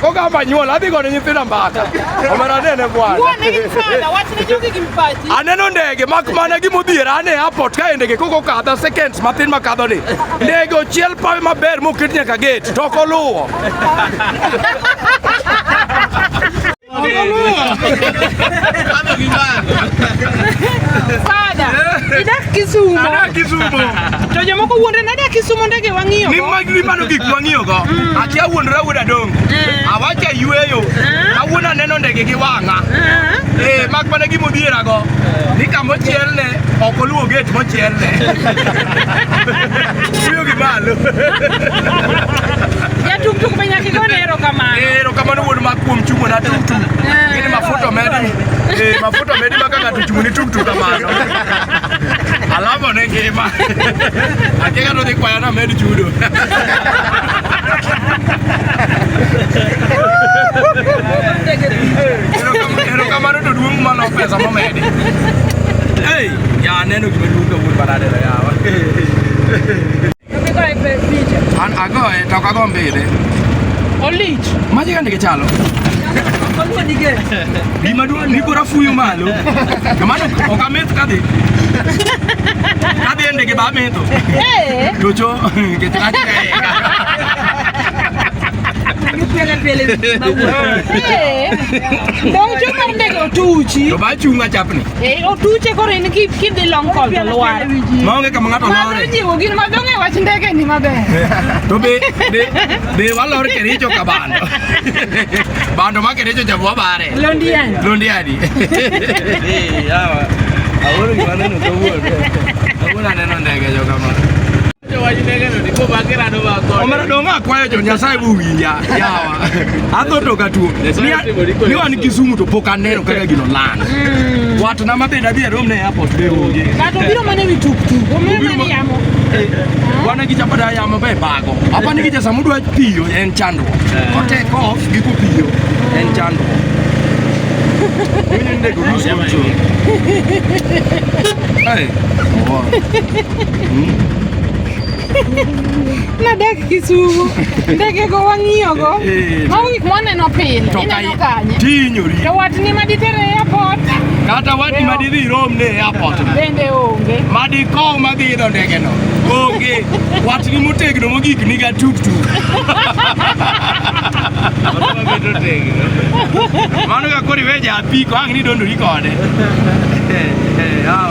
Kogamba nyuol adhi gone nyithinda mbaka. Omera nene bwana. Bwana gi fada wachne jogi gi mpachi. Aneno ndege mak mana gi modhiera ane airport ka ndege koko kadha seconds matin ma kadho ni. Ndege ochiel pawe maber moket nyaka gate to ok oluwo. Fada. Idak Kisumo. Anak Kisumo. To jomoko wuondre nade kisumo ndege wang'iyo go? Ni mag ni mano gik wang'iyo go. Mm. Ati awuondra wuod adongo. Eh. Awacha yueyo. Eh. Awuon aneno ndege gi wang'a. Eh, eh mak mana gimo biera go. Ni kamo chiel ne ok oluwo gate mo chiel ne. Wuyo gi malo. Ya tuk tuk be nyaki go nero kamano. Eh, ero kamano wuod mak kuom chungo na tuk tuk. Ni mafuta medi. Eh, mafuta medi maka ng'ato chungo ni tuk tuk kamano. Alafu ne ngima. Akeka no dhi kwayo na med chudo. Ero kamano to duong' mano pesa momedi. Hey, ya neno gima duong' kawuono banade yawa. Agoe toka gombile. Olich. Maji gani kichalo? Gima duong' ni kora fuyo malo. Kamano ok ameth kadhi. Kadhi ndege ba metho. Eh. Docho kichalo. Pele pele. Eh. Docho mar ndege otuchi. To ba chunga chapni. Eh, otuche koro in ki kidhi long call to lwar. Maonge kama ng'ato Mano lore. jiwo gin madong e wach ndege ni maber. To be be be walor Kericho ka bando. Bando ma Kericho jabu wabare. Londiani. Londiani. Eh, yawa. Awuoro gima aneno kawuono. Kawuono aneno ndege jo kamano. omera dong' akwayo jo nyasaye bowinja yawa adho to katuo ni wan kisumu to pok aneno kaka gino lan hmm. watna ma bende adhi arom ne airport be onge obiro mana wi tuktuk yamo eh, wana gi chapada yamo be bago apa ni gi jasa mudwa piyo en chandruok eh. kotek off gi kopiyo en chandruok Mimi ndio kuruhusu. Hey. nadak Kisumu ndege go wang'iyo go eh, eh, mago gik mwaneno pile ineno kanye tinyori to watni ma ditere e airport kata watni ma didhi rom ne e airport bende onge ma dikow ma dhi idho ndege no onge watni motegno mogik niga tuktuk mano ka koro iwe japiko ang' ni dondori kode eh,